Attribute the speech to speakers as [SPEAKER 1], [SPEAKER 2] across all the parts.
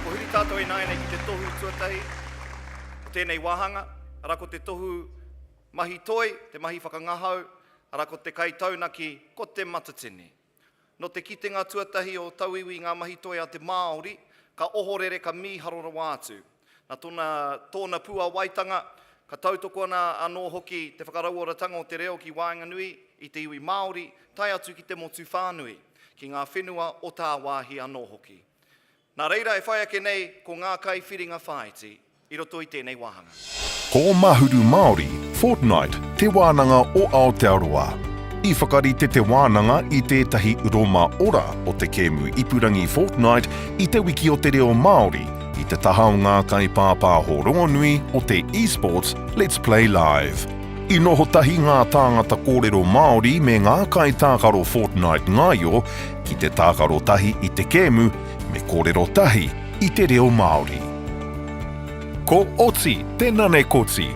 [SPEAKER 1] Kua huri tātou ināianei ki te tohu tuatahi o tēnei wāhanga, arā ko te tohu mahi toi, te mahi whakangahau, arā ko te kaitaunaki, ko Te Matatini. Nō te kitenga tuatahi o Tauiwi i ngā mahi toi a te Māori, ka ohorere ka mīharo rawa atu. Nā tōna, tōna puāwaitanga, ka tautoko ana anō hoki te whakarauoratanga o te reo ki waenganui i te iwi Māori tae atu ki te motu whānui, ki ngā whenua o tāwāhi anō hoki. Nā reira e whai ake nei ko ngā kaiwhiringa whāiti i roto i tēnei wāhanga. Ko Mahuru Māori, Fortnight, te wānanga o Aotearoa. I whakarite te wānanga i tētahi roma ora o te kēmu ipurangi Fortnight i Te Wiki o te Reo Māori, i te taha o ngā kaipāpāho rongonui o te eSports Let's Play Live. I noho tahi ngā tāngata kōrero Māori me ngā kaitākaro Fortnite ngaio ki te tākaro tahi i te kēmu me kōrero tahi i te reo Māori. Ko Oti te nane koti,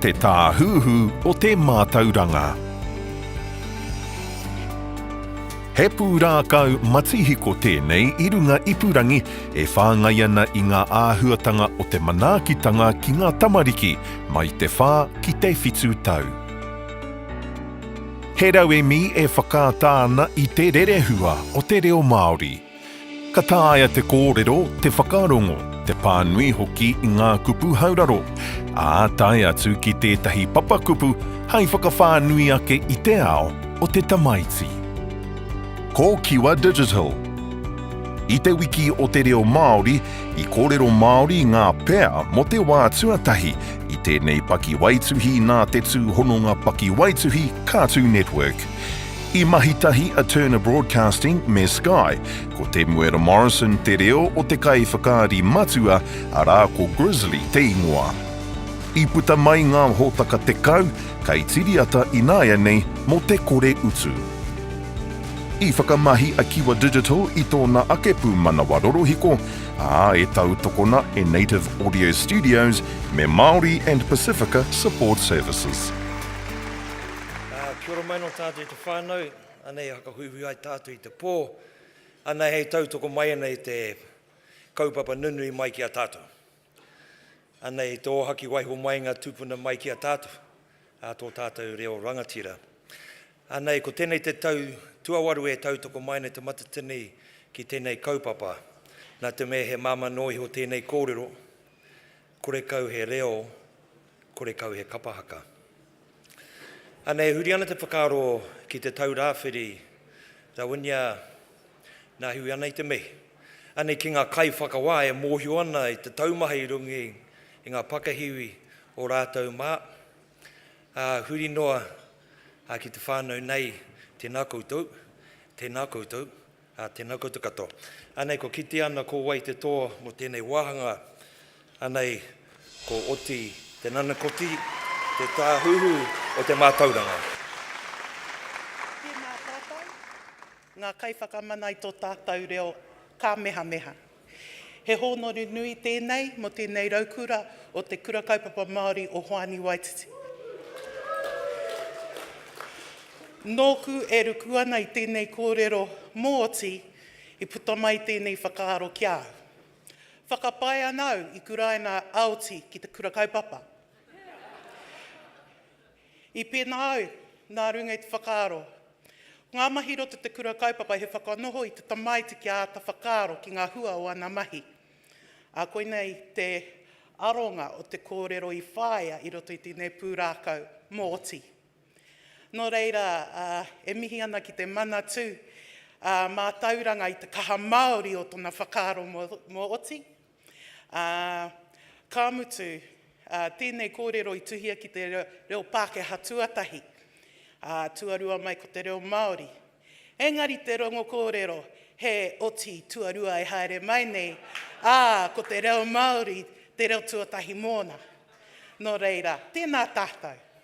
[SPEAKER 1] te tāhuhu o te mātauranga. He pūrākau matihiko tēnei i runga ipurangi e whāngai ana i ngā āhuatanga o te manaakitanga ki ngā tamariki mai te whā ki te whitu tau. He rauemi e whakaata ana i te rerehua o te reo Māori. Ka taea te kōrero, te whakarongo, te pānui hoki i ngā kupu hauraro, ā, tae atu ki tētahi papakupu hai whakawhānui ake i te ao o te tamaiti. Ko Kiwa Digital. I te Wiki o te Reo Māori, i kōrero Māori ngā pea mō te wā tuatahi i tēnei pakiwaituhi nā te tūhononga pakiwaituhi Cartoon Network. I mahi tahi a Turner Broadcasting me Sky, ko Temuera Morrison te reo o te kaiwhakaari matua, arā ko Grizzly te ingoa. I puta mai ngā hōtaka tekau, kei Tiriata ināianei, mō te kore utu. I whakamahi a Kiwa Digital i tōna ake pūmanawa rorohiko, ā, e tautokona e Native Audio Studios me Māori and Pasifika Support Services. Kia ora mai nō tātou i te whānau. Anei e whakahuihui ai tātou i te pō. Anei hei tautoko mai ana i te kaupapa nunui mai ki a tātou. Anei i te ōhaki waiho mai ngā tūpuna mai ki a tātou, ā tō tātou reo rangatira. Anei ko tēnei te tau tuawaru e tautoko mai ana te matatini ki tēnei kaupapa. Nā te mea he māmā noa iho tēnei kōrero, Kore kau he reo, kore kau he kapa haka. Ana e huri ana te whakaaro ki te tau rāwhiri, Rawinia, nā hiwi ana i te mihi. Ana ki ngā kaiwhakawā e mōhio ana i te taumaha i runga i ngā pakahiwi o rātou mā. Ā, huri noa ki te whānau nei, tēnā koutou, tēnā koutou. Ā, tēnā koutou katoa. Anei kua kitea ana ko wai te toa mō tēnei wāhanga, anei ko Oti Te Nanakoti, te Tāhuhu o te Mātauranga. Tēnā tātou, ngā kaiwhakamana i tō tātou reo kāmehameha. He hōnore nui tēnei mō tēnei raukura o Te Kura Kaupapa Māori o Hoani Waititi. Nōku e ruku ana i tēnei kōrero mōti i puta mai tēnei whakaaro ki a au. Whakapae ana au i kuraina aoti ki te kura kaupapa. I pēnā au, nā runga i te whakaaro. Ko ngā mahi roto te kura kaupapa he whakanoho i te tamaiti kia āta whakaaro ki ngā hua o ana mahi. Ā, koinei te aronga o te kōrero i whāia i roto i tēnei pūrākau, Mōti. Nō reira, e mihi ana ki te Manatū mātauranga i te kaha māori o tona whakaaro mō Oti, Ā, ka mutu, ā, tēnei kōrero i tuhia ki te reo Pākehā tuatahi, ā, tuarua mai ko te reo Māori. Engari te rongo kōrero he oti tuarua e haere mai nei, ā, ko te reo Māori te reo tuatahi mōna. Nō reira, tēnā tātou.